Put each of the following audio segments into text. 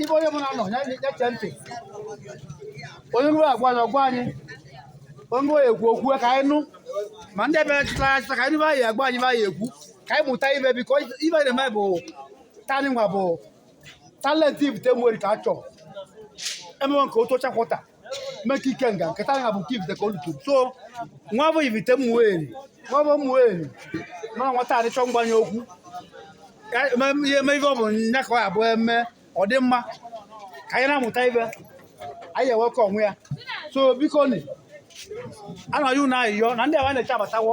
ibe onye ọbụna nọ ya chee ntị onye ruo agwa anyị ọ gwa anyị onye ruo ekwu okwu ka anyị nụ ma ndị ebe chụtara achụta ka anyị anyị agwa anyị anyị ekwu ka anyị mụta ive biko ive na-eme bụ taanị nwa bụ talent Ivite Ụmụeri ka a chọọ e mewo nke Otuocha quarter mee nke Ikenga nke taa nwa bụ nke Ivite ka o lutu so nwa bụ Ivite Ụmụeri nwa bụ Ụmụeri nọ nwata adịchọ mgbanye okwu Ka- eme ihe eme ife ọ bụla nya ka ọ ya bụ eme ọ dị mma ka anyị na-amụta ive anyị ewekọ onwe ya so biko nị a na-ayọ unu ayịyọ na ndị ebe a na-eche abatawo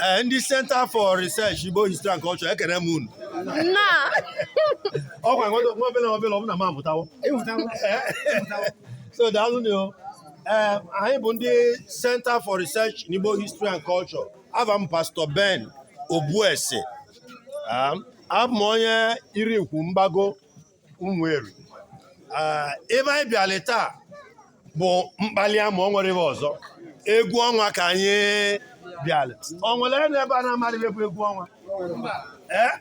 Eh, ndị Center for Research Igbo History and Culture ekene m unu ọkwa nwobele nwobele ọ bụ na m amụtawo so daalụ nụ eh, anyị bụ ndị Center for Research in Igbo History and Culture ava m Pastor Ben Obuese ah, abụ m onye iri ikwu Mgbago Ụmụeri ah, ebe anyị bịara taa bụ mkpali ama o nwerọ ive ọzọ egwu ọnwa ka anyị bịara o nwere onye ebe a na-amarọ egwu egwu ọnwa ee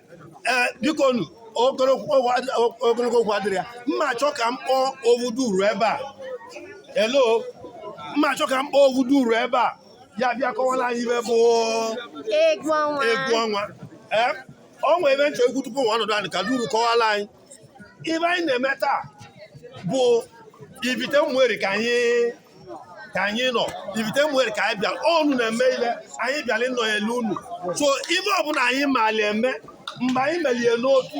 ee biko nu ogologo okwu ad- ogologo okwu adịrọ ya m na-achọ ka m kpọọ ovuduru ebe a hello m na-achọ ka m kpọọ ovuduru ebe a ya bịa kọwara anyị ive bụ Egwu ọnwa. egwu ọnwa ee o nwere ive m chọ ikwu tupu nwa ọnọdụ anyị ka duru kọwara anyị ive anyị na-eme taa bụ Ivite Ụmụeri ka anyị ka anyị nọ Ivite Ụmụeri ka anyị bịara ọnụ na-eme ile anyị bịara ịnọ na-ele unu so ive ọbụla anyị maali eme mgbe anyị melie n'Otu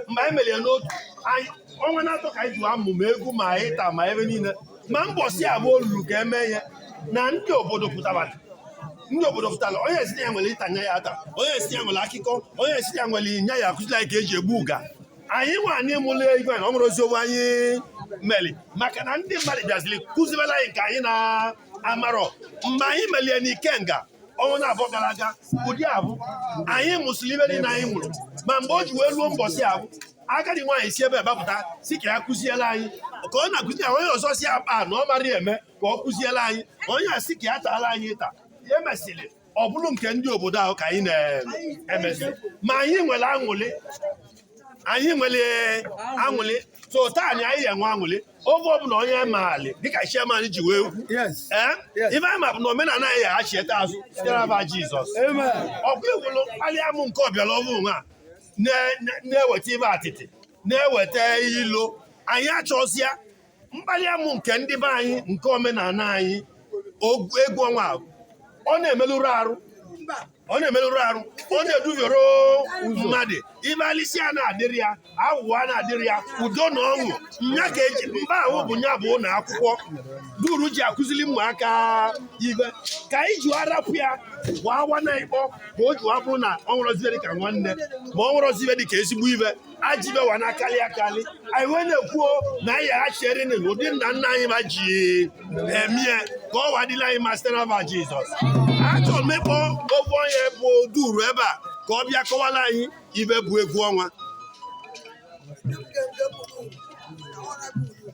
mgbe anyị melie n'Otu anyị ọnwa na-atọ ka anyị ji amụ ma egwu ma ịta ma ive niile ma mbọsị avụ o ruru ka eme ya na ndị obodo pụtara ndị obodo pụtara onye esi na ya nwere ịta nya ya ata onye esi ya nwere akụkọ onye esi ya nwere nya ya akụzila ka eji egbu uga anyị nwa anyị mụlụ ive na o nwerọzi ive anyị meli maka na ndị mmadụ bịaziri kụzibela anyị nke anyị na-amarọ mgbe anyị melie n'Ikenga ọnwa na-abụọ gara aga ụdị avụ anyị mụsịrị ive niile anyị mụrụ ma mgbe o ji wee ruo mbọsị avụ agadi nwaanyị si ebe a pụta sị ka ya kụziela anyị ka ọ na-akụzi ya onye ọzọ si akpa na ọ mara eme ka ọ kụziela anyị onye a sị ka ya taala anyị ịta ya e mesịrị ọ bụrụ nke ndị obodo ahụ ka anyị na-emezi ma anyị nwere aṅụlị anyị nwere aṅụlị so taa na anyị enwe aṅụlị oge ọbụla onye maali dịka chairman ji wee kwu eh? ife anyị ma bụ na omenala anyị ya achieta azụ site n'ava Jizọs ọkụ egwulu mkpali amụ nke ọbịala ọhụrụ a na-eweta ive atịtị na-eweta ilo anyị achọzịa mkpali amụ nke ndị be anyị nke omenala anyị egwu ọnwa ọ na-emelụrụ arụ ọ na-emelụrụ arụ ọ na-edubere mmadụ ive alisi a na-adịrị ya aghụghọ a na-adịrị ya udo na ọṅụ nya ka eji mba ahụ bụ nya bụ ụlọ akwụkwọ duru ji akụziri ụmụaka ive ka anyị ji arapụ ya gbawa na ikpọ ka o jiwa bụrụ na o nwerozi ive dịka nwanne ma o nwerozi ive dịka ezigbo ive ajọ ive wa na-akarị akarị anyị wee na-ekwuo na anyị aghachiere n'ụdị nna nna anyị va ji eme ya ka ọ wa dịlị anyị mma site n'ava Jizọs achọrọ m ịkpọ ofu onye bụ duru ebe a ka ọ bịa kọwara anyị ive bụ egwu ọnwa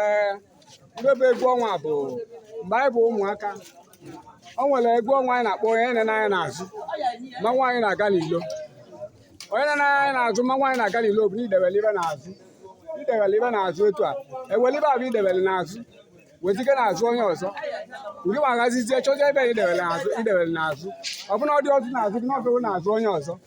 ee ndị bụ egwu ọnwa bụ mgbe anyị bụ ụmụaka o nwere egwu ọnwa anyị na-akpọ onye enene anya n'azụ mmanwụ anyị na-aga n'ilo onye enene anya n'azụ mmanwụ anyị na-aga n'ilo bụ na idewere ive n'azụ idewere ive n'azụ etu a ewere ive avụ idewere n'azụ wezike n'azụ onye ọzọ ụdị ma agazizie chọzie ebe idewere n'azụ ọ bụrụ na ọ dịrọzi n'azụ gị na ọ bụrụ n'azụ onye ọzọ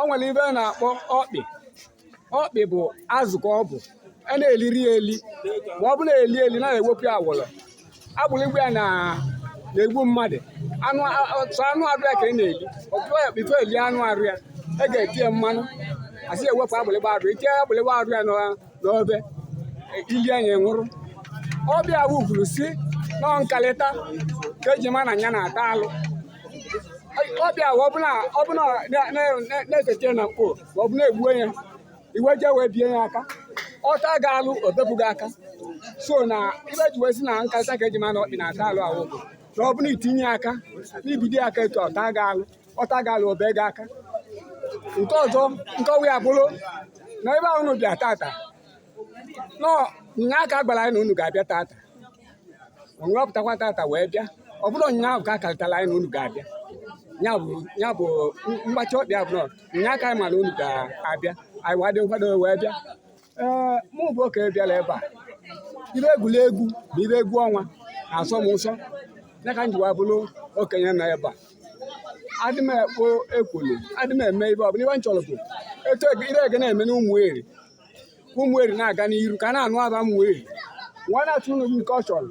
o nwere ive a na-akpọ ọkpị ọkpị bụ azụ ka ọ bụ a na-eliri ya eli ma ọ bụ na-eli eli na ewepụ ya awọrọ agbụrịgba ya na na-egbu mmadụ anụ a- a- sọ anụ arụ ya ka ị na-eli ọkpị before eli anụ arụ ya e ga-eti ya mmanụ asị ewepụ agbụrịgba arụ itinye agbụrịgba arụ ya na n'ove i lie nya ị nwụrụ ọkpị avụ kwuru sị na nkalịta ka eji ma na ya na-ata alụ ọkpị avụ ọbụna ọbụna na- na- na- na-esete na mkpo ma ọ bụ na-egbu ya i wee jee wee bie ya aka ọ ta gị alụ o bepụ gị aka so na ive ji wee sị na nkalịta ka eji ma na ọkpị na-ata alụ awụ bụ na ọbụna itinye aka n'ibidi aka etu ọ ta gị alụ ọ ta gị alụ o be gị aka nke ọzọ nkọwa ya bụrụ na ebe ahụ unu bịa tata na nya a ka gwara anyị na unu ga-abịa tata unu apụtakwa tata wee bịa ọ bụrụ nya ahụ ka a karịtara anyị na unu ga-abịa ya bụ ya bụ mgbachi ọkpị a bụrụ nya aka anyị ma na unu ga-abịa anyị wa dị nkwado wee bịa ee mụ bụ okenye bịara ebe a ive egwuregwu bụ ive egwu ọnwa na-asọ m ụsọ ya ka m ji wee bụrụ okenye nọ ebe a adị m ekwo ekworo adị m eme ive ọbụla ive m chọrọ bụ etu ege- ive ege na-eme n'ụmụeri ka ụmụeri na-aga n'iru ka a na-anụ ava ụmụeri nwa na-atụ unu nke ọ chọrọ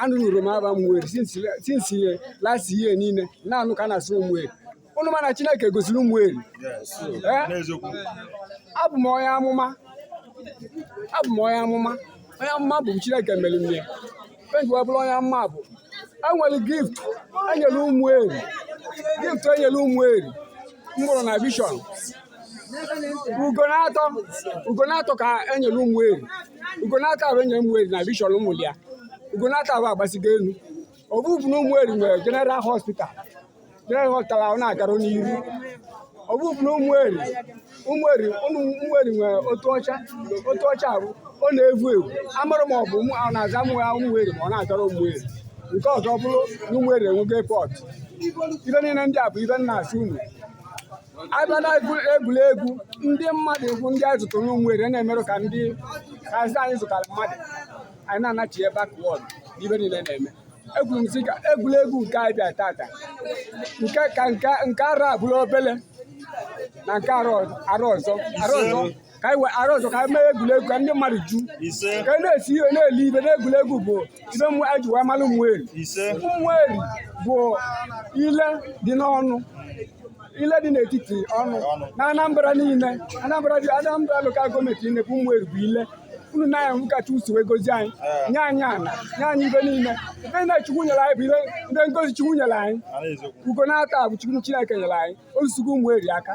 anụrụ m ava ụmụeri since last year niile na-anụ ka a na-asị ụmụeri ụnụ mana Chineke gosiri ụmụeri abụ m onye amụma abụ m onye amụma onye amụma bụ Chineke mere m ya m ji wee bụrụ onye amụma bụ enwere gift enyere ụmụeri gift enyere ụmụeri m vụrụ na vision ugo na-atọ ugo na-atọ ka e nyere Ụmụeri ugo na-atọ ahụ e nyere Ụmụeri na vision ụmụ ya ugo na-atọ ahụ agbasigo elu ọ bụ bụ na Ụmụeri nwere general hospital general hospital ahụ na-agara n'ihu ọ bụ bụ na Ụmụeri Ụmụeri ụmụ Ụmụeri nwere Otuọcha Otuọcha ahụ ọ na-evu evu amarọ ma ọ bụ ụmụ ahụ na-aza mụ ya Ụmụeri ma ọ na-agara Ụmụeri nke ọzọ bụrụ na Ụmụeri enwego airport ive niile ndị a bụ ive m na-asị unu a bịa na egwuregwu ndị mmadụ egwu ndị anyị zụtara n'Ụmụeri na-emerụ ka ndị kazi anyị zụtara mmadụ anyị na-anachi ebe backward n'ive niile na-eme ekwuru m sị ka egwuregwu nke anyị bịa tata nke ka nke arọ a bụrụ obele na nke arọ ọzọ ka anyị wee arọ ọzọ ka anyị mee egwuregwu ka ndị mmadụ ju ka anyị na-esi ihe na-eli ive na egwuregwu bụ ive mmụọ anyị ji wee mara Ụmụeri Ụmụeri bụ ile dị n'ọnụ ile dị n'etiti ọnụ na Anambra niile Anambra dị Anambra lokal gọọmenti niile bụ Ụmụeri bụ ile ọnụ na ya ka Chukwu si wee gozie anyị nye anyị ana nye anyị ive niile ive niile Chukwu nyere anyị bụ ile ndị ngọzi Chukwu nyere anyị ugo na-atọ bụ Chukwu Chineke nyere anyị ozugo Ụmụeri aka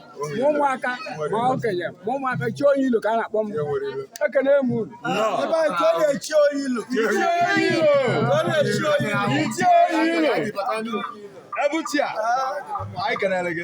ma ụmụaka ma okenye ma ụmụaka Chief Onyeilo ka a na-akpọ m ekene m unu ebuchi a anyị kenere gị